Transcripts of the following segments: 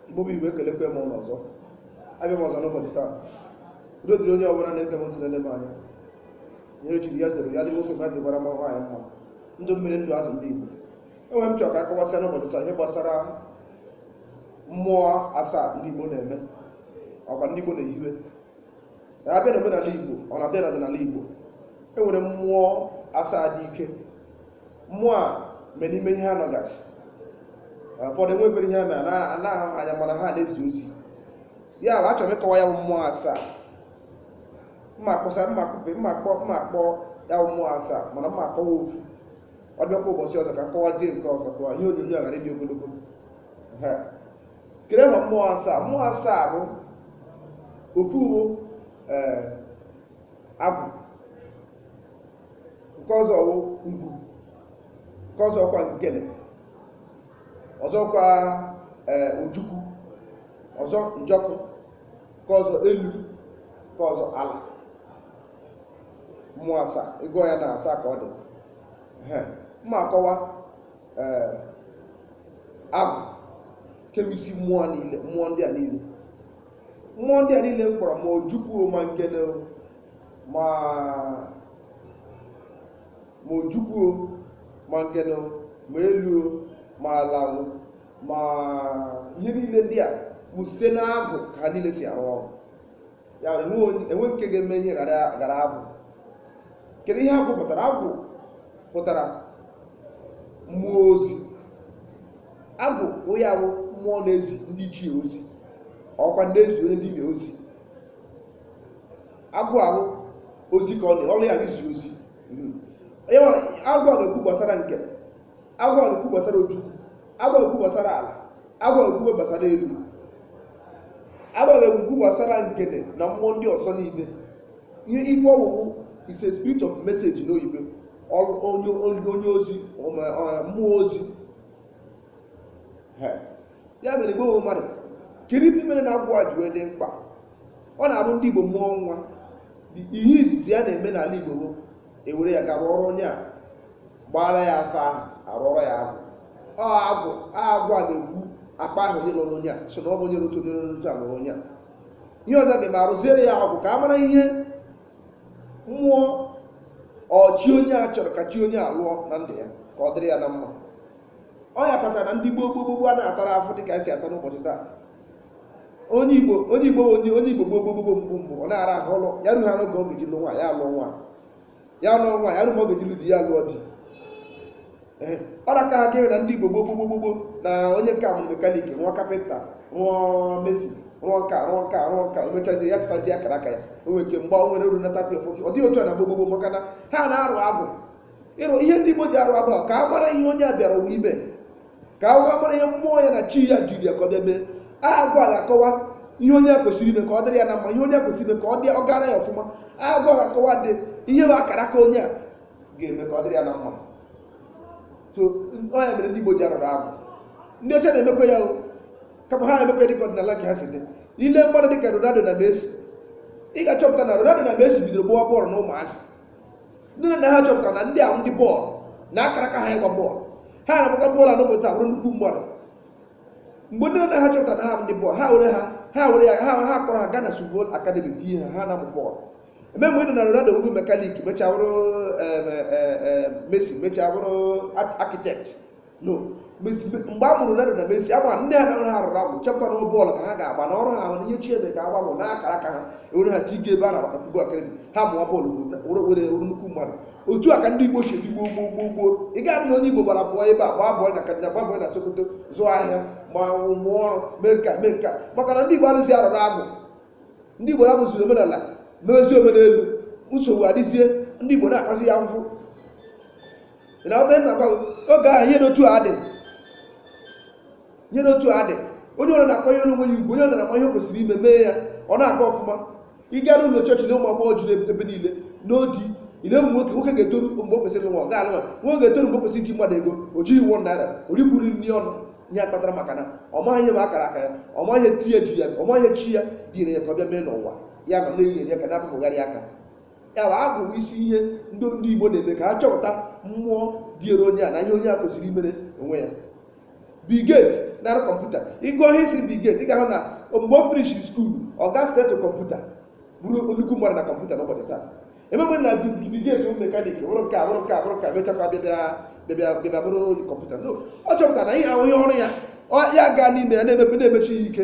Igbo bụ Igbo ekelekwa m ụnụ ọzọ abịa m ọzọ n'ụbọchị taa udo dịrị onye ọbụla na-ege m ntị na-ele m anya ihe e chiri ya zere ya dị nwoke mma dịkwara ma nwaanyị mma ndụ mmiri ndụ azụ ndị Igbo enwere ihe m chọrọ ka a kọwasịa n'ụbọchị taa ihe gbasara mmụọ asaa ndị Igbo na-eme ọkwa ndị Igbo na-ehiwe a bịa na omenala Igbo ọ na-abịa na ọdịnala Igbo e nwere mmụọ asaa dị ike mmụọ a mere n'ime ihe anọgasị ụfọdụ enwebere ihe mere a na-ahụ ha anya mana ha na-ezi ozi ya bụ achọrọ m ịkọwa ya bụ mmụọ asaa m ma akpọsa m ma akpọpe m ma akpọ m ma akpọ ya bụ mmụọ asaa mana m ma akọwa ofu ọ bịakwa ụbọchị ọzọ ka m kọwazie nke ọzọ ka ihe onyonyo a ghara ịdị ogologo Ehe. kedu ihe bụ mmụọ asaa mmụọ asaa bụ ofu bụ ee agwụ nke ọzọ wụ ngwu nke ọzọ kwa ngene ọzọ kwa ee ojukwu ọzọ njọkụ nke ọzọ elu nke ọzọ ala mmụọ asaa ị gụọ ya na asaa ka ọ dị Ehe. m ma akọwa ee agwụ nke bụ isi mmụọ niile mmụọ ndị a niile mmụọ ndị a niile m kpọrọ ma ojukwu ma ngene o, ma ma ojukwu o, ma ngene o, ma elu o, ma ala o, ma ihe niile ndị a bụ site n'agwụ ka ha niile si arụ ọrụ ya mere enwe onye- enwe nke ga-eme ihe ghara ghara agwụ kedu ihe agwụ pụtara agwụ pụtara mmụọ ozi agwụ bụ ya bụ mmụọ na-ezi ndị ichie ozi ọkwa na-ezi onye dibịa ozi agwụ ahụ ozi ka ọ na ọrụ ya bụ izi ozi Mhm. Onye nwe- agwụ a ga-ekwu gbasara ngene agwụ a ga-ekwu gbasara ojukwu agwụ a ga-ekwu gbasara ala agwụ a ga-ekwu gbasara elu agwụ a ga-ekwu gbasara ngene na mmụọ ndị ọzọ niile ihe ife ọ wụ wụ is a spirit of message n'oyibo ọ wụ onye onye- onye ozi ọma- ọ- mmụọ ozi He. ya mere igbo bụ mmadụ kedu ife mere na agwụ a ji wee dị mkpa ọ na-abụ ndị igbo mụọ nwa ihe izizi a na-eme n'ala igbo bụ e were ya gawa ọrụ onye a gbaara ya afa ahụ a rụọrọ ya agwụ ọ agwụ a agwụ a ga-ebu akpọ aha onye lụrụ onye a sị na ọ bụ onye dị otu onye dị otu a lụrụ onye a ihe ọzọ dị mma a rụziere ya agwụ ka a mara ihe mmụọ or chi onye a chọrọ ka chi onye a lụọ na ndụ ya ka ọ dịrị ya na mma ọ ya kpatara na ndị gboo gboo gboo gboo a na-atara afụfụ dị ka e si ata n'ụbọchị taa onye igbo onye igbo onye onye igbo gboo gboo gboo gboo mbụ mbụ ọ na-ara ahụ ụlọ ya rughara oge ọ ga-eji lụọ nwaanyị a lụọ nwa ya nụọ nwaanyị arụ ma ọ ga-ejilu di ya lụọ di Ee, ọ na ka aka na ndị igbo gboo gboo gboo gboo na onye nke a bụ mekanik rụọ kapịnta rụọ mason rụọ nka rụọ nka rụọ nka o mechazie ya chọtazie akara aka ya o nwere ike mgbe o nwere ruo na thirty or forty ọ dịghị otu a na gboo gboo gboo maka na ha na-arụ agwụ ịrụ ihe ndị igbo ji arụ agwụ bụ ka a mara ihe onye a bịara ụwa ime ka a wee mara ihe mmụọ ya na chi ya ziri ya ka ọ bịa mee aha agwụ a ga-akọwa ihe onye a kwesịrị ime ka ọ dịrị ya na mma ihe onye a kwesịrị ime ka ọ dị ọ gara ya ọfụma aha agwụ a ga-akọwa dị ihe bụ akara aka onye a ga-eme ka ọ dịrị ya na mma so ọ ya mere ndị Igbo ji arụrụ agwụ ndị ọcha na-emekwa ya o kama ha na-emekwa ya dịka ọdịnala nke ha si dị i lee mmadụ dịka Ronaldo na Messi ị ga-achọpụta na Ronaldo na Messi bidoro gbawa bọọlụ na ụmụazị nne na nna ha chọpụtara na ndị a wụ ndị bọọlụ na akara aka ha ịgba bọọlụ ha na-agbaka bọọlụ anọpụta bụrụ nnukwu mmadụ mgbe nne na nna ha chọpụtara na ha bụ ndị bọọlụ ha were ha ha were ya ha ha kpọrọ ha gaa na Football Academy tinye ha ha na-amụ bọọlụ e nwee mgbe ị nụ na Ronaldo wụrụ mekanik mechaa bụrụ em, eh, eh, mason mechaa bụrụ architect no Mes- me- mgbe a mụrụ Ronaldo na Messi agba ndị ha dara ha rụrụ agwụ chọpụta na bọọlụ ka ha ga-agba na ọrụ ha ahụ na ihe chi ebe ka agba bụ n'akara aka ha e were ha tii ebe a na-agbata futbọl akademi ha mụwa bọọlụ were were were nnukwu mmadụ otu a ka ndị Igbo si ebi gboo gboo gboo gboo ị ga-adị na onye Igbo gbara bọọlụ ebe a gbaa bọọlụ na Kaduna gbaa bọọlụ na Sokoto zụọ ahịa ma mụọ ọrụ mee nka mee nka maka na ndị Igbo arụzi arụrụ agwụ ndị Igbo hapụziri omenala mewezi omenelu nsogbu adịzie ndị Igbo na-atazi ahụhụ ịnata nna gwa oge ahụ ihe n'otu a dị ihe n'otu a dị onye ọbụla na-akwanyere onwe ya ugwu onye ọbụla na-akwanye kwesịrị ime mee ya ọ na-aga ọfụma ị gaa n'ụlọ chọọchị na ụmụ agbọghọ juru ebe niile no di i lee ụmụ nwoke nwoke ga-etoru mgbe o kwesịrị nwa ọ ga-alụ nwa nwoke ga-etoru mgbe o kwesịrị iji mmadụ ego o jighị one naira o rikwuru nri ọnụ ihe a kpatara maka na ọ maghị ihe bụ akara aka ya ọ maghị ihe chi ya ji ya ọ maghị ihe chi ya dunyere ya ka ọ bịa mee n'ụwa ya ma na-enye ya ka na-apụpụgharị aka ya bụ agwụ bụ isi ihe ndị ndị igbo na-eme ka ha chọpụta mmụọ dịịrị onye a na ihe onye a kwesịrị imere onwe ya Bill Gates na-arụ kọmputa ị gụọ history Bill Gates ị ga-ahụ na mgbe o finish school ọ gaa start kọmputa bụrụ nnukwu mmadụ na kọmputa n'ụbọchị taa e nwee mgbe na Bill Gates wụ mekanik bụrụ nke a bụrụ nke a bụrụ nke a mechakwa bịabịa bịabịa bịabịa bụrụ onye kọmputa no ọ chọpụtara na ihe a wụ ihe ọrụ ya ọ ya gaa n'ime ya na-eme ya na-emesi ya ike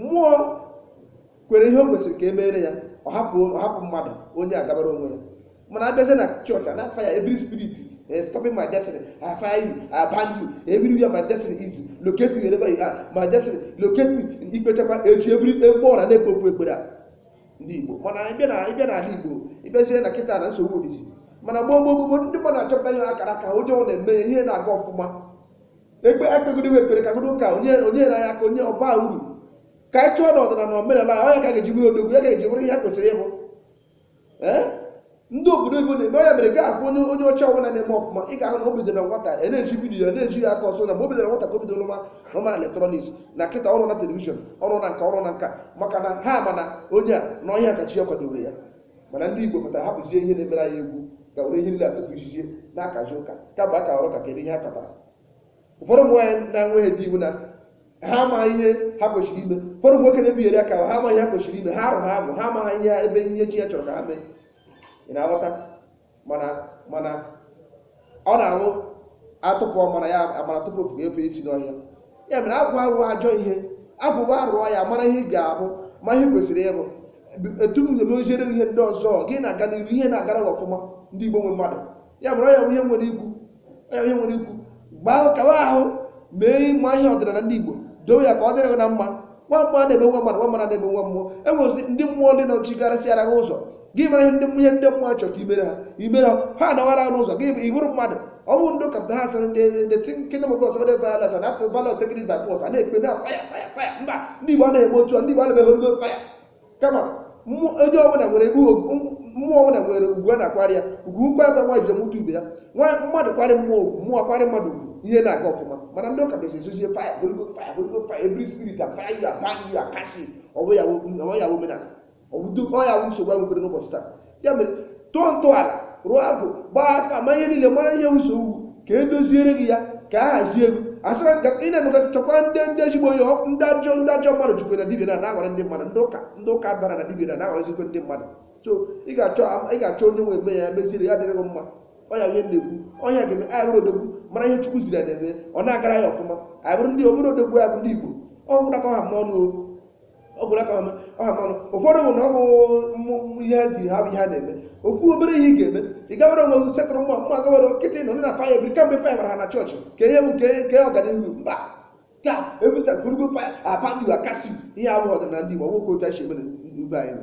mmụọ kwere ihe o kwesịrị ka e meere ya ọ hapụ ọ hapụ mmadụ onye agabara onwe ya mana abịazie na chọọchị a na-fire every spirit eh, stopping my destiny I fire you I bind you everywhere my destiny is locate me wherever you are my destiny locate me i kpechakwa echi every ebe ọra na-ekpofu ekpere a ndị Igbo mana ịbịa na ịbịa n'ala Igbo ịbịazie na kịta na nsogbu adịzie mana gboo gboo gboo ndị mmadụ achọpụta ihe akara aka onye ọ na-eme ya ihe na-aga ọfụma ekpe akpegodi wee ekpere ka godo ụka onye onye nyere anyị aka onye ọ baa uru ka anyị chụọ na ọdịnala omenala anyị, ọ ya ka a ga-eji bụrụ odogwu ya ka a ga-eji bụrụ ihe a kwesịrị ịbụ Ee? ndị obodo oyibo na-eme ọ ya mere ị ga-afụ onye onye ọcha ọbụla na-eme ọfụma ị ga-ahụ na o bidoro na nwata ya na-eji vidiyo ya na-eji ya aka ọsọ na mgbe o bidoro na nwata ka o bidoro nwa nwa elektrọniks na kịta ọ rụọna telivishọn ọ rụọna nka ọ rụọna nka maka na ha ma na onye a na ọ ihe a ka chi ya kwadoro ya mana ndị igbo pụtara hapụzie ihe na-emere anyị egwu ga were ihe nile tufuo izizi na-akazi ụka ka bụ aka ọrụ ka kedu ihe ha kpatara ụfọdụ ụmụ nwaanyị na-enweghị di ọ wụ na ha amaghị ihe ha kwesịrị ime ụfọdụ ụmụ nwoke na-ebigheri aka ha amaghị ihe ha kwesịrị ime ha arụghị agwụ ha amaghị ihe ebe ihe chi ya chọrọ ka ha mee ị na-aghọta mana mana ọ na-awụ a tụpụ ọmara ya amara tụpụ ofeke ya efe isi n'ọhịa ya mere agwụ awụghị ajọ ihe agwụ kpa a rụọ ya mara ihe ị ga-abụ mara ihe i kwesịrị ịbụ etu m ga-emeziere gị ihe ndị ọzọ gị na-aga n'ihu ihe na-agara gị ọfụma ndị igbo nwe mmadụ ya mere ọ ya bụ ihe m nwere ikwu onye onye nwere ikwu gbaa kawa ahụ mee ịma ihe ọdịnala ndị igbo dowe ya ka ọ dịrị gị na mma nwa mmụọ na-eme nwa mmadụ nwa mmadụ na-eme nwa mmụọ e nwezi ndị mmụọ ndị nọchigarịsịara gị ụzọ gị mara ihe ndị ihe ndị mmụọ chọrọ ka i mere ha i mere ha ha anọghara gị n'ụzọ gị ị bụrụ mmadụ ọ bụrụ ndị ụka pụta ha sịrị ndị ndị the kingdom of God suffer violence and after violence taking it by force a na-ekpe na fire fire fire mba ndị igbo anaghị eme otu a ndị igbo anaghị eme holy ghost fire kama mmụọ onye ọbụla nwere ebe ugwu- m- mmụọ ọbụla nwere ugwu a na-akwara ya ugwu ugwu ka nwaanyị ji mụta ibe ya nwa mmadụ kwarị mmụọ ugwu mmụọ kwarị mmadụ ugwu ihe na-aga ọfụma mana ndị ụka bịazi sịzie fire holy ghost fire holy ghost fire every spirit and fire you are bind you are casting ọ wụ ya wụ- ọ wụ ya wụ omenala ọ wụ do- ọ ya wụ nsogbu anyị nwere n'ụbọchị taa ya mere tọọ ntọala rụọ agwụ gbaa afa ma ihe niile mara ihe ụzọ gị wụ ka e doziere gị ya ka a hazie gị asịra ka ị na-emekọta chọkwa ndị ndị ezigbo onye ọ- ndị ajọ ndị ajọ mmadụ dịkwa na dibia na na-aghọrọ ndị mmadụ ndị ụka ndị ụka bara na dibia na na-aghọrọzikwa ndị mmadụ so ị ga-achọ ị ga-achọ onye ma eme ya meziere ya dịrị gị mma ọ ya ihe na-ekwu ọ ya ga-eme anyị bụrụ odogwu mara ihe chukwu ziri ya na-eme ọ na-agara ya ọfụma anyị bụrụ ndị obodo odogwu ya bụ ndị igbo ọ gwụla ka ọ ha m n'ọnụ o ọ gwụla ka ọ ha m n'ọnụ ụfọdụ bụ na ọ bụ mmụ- mmụ ihe ha ji ha bụ ihe ha na-eme ofu obere ihe ị ga-eme ị gawara onwe gị setụrụ mmụọ mmụọ gawara nkịtị nọ na faya bi kamgbe faya bara ha na chọọchị ka ihe bụ nke nke ọganihu mba ka ebute holy ghost faya a bind a cast ihe a abụghị ọdịnala ndị Igbo ọ bụghịkwa otu anyị si eme na ebe anyị nọ.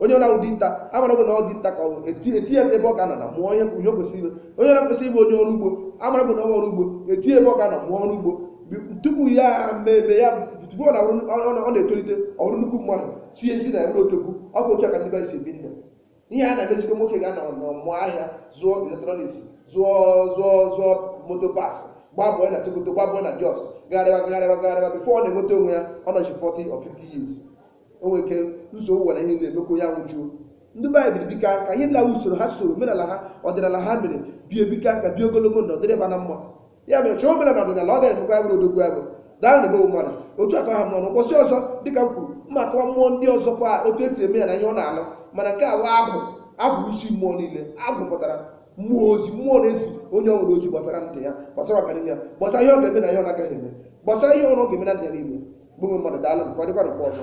onye na-awụ dinta a mara bụ na ọ dinta ka ọ bụ e ti- e tie ya ebe ọ ga-anọ na mụọ ihe ihe o kwesịrị ime onye na-akwesị ịbụ onye ọrụ ugbo a mara bụ na ọ bụ ọrụ ugbo e tie ya ebe ọ ga-anọ mụọ ọrụ ugbo Bi- tupu ya mmemme ya tupu ọ na-abụrụ ọ- ọ- ọ na-etolite ọ bụrụ nnukwu mmadụ tinye isi na ya bụrụ odogwu ọ bụ otu a ka ndị be anyị si ebi ndụ ihe a na-emezikwa nwoke ga-anọ mụọ ahịa zụọ eletrọniks zụọ zụọ zụọ motor parts gbaa bọọ na sokoto gbaa bọọ na jos gagharịwa gagharịwa gagharịwa before ọ na-enweta onwe ya ọ nọchaa 40 or 50 years o nwere ike ụzọ ụwa na ihe na-emekwa ya nwụjuo ndị baịbụl bika ka ihe nlawa usoro ha soro omenala ha ọdịnala ha mere bie bika ka bie ogologo ndụ ọ dịrị ba na mma ya mere chọọ omenala ọdịnala ọ gaghị emekwa ya bụrụ odogwu agwụ dara na emewe mmadụ otu aka ha mmanụ ụbọchị ọzọ dịka m kwuru mma akọwa mmụọ ndị ọzọ kwa otu e si eme ya na ihe ọ na-alụ mana nke a bụ agwụ agwụ isi mmụọ niile agwụ pụtara mmụọ ozi mmụọ na-ezi onye ọbụla ozi gbasara ndụ ya gbasara ọganihu ya gbasara ihe ọ ga-eme na ihe ọ na-agaghị eme gbasara ihe ọrụ ọ ga-eme na ndụ ya niile gbanwe mmadụ daalụnụ ka ọ dịkwa na mgbe ọzọ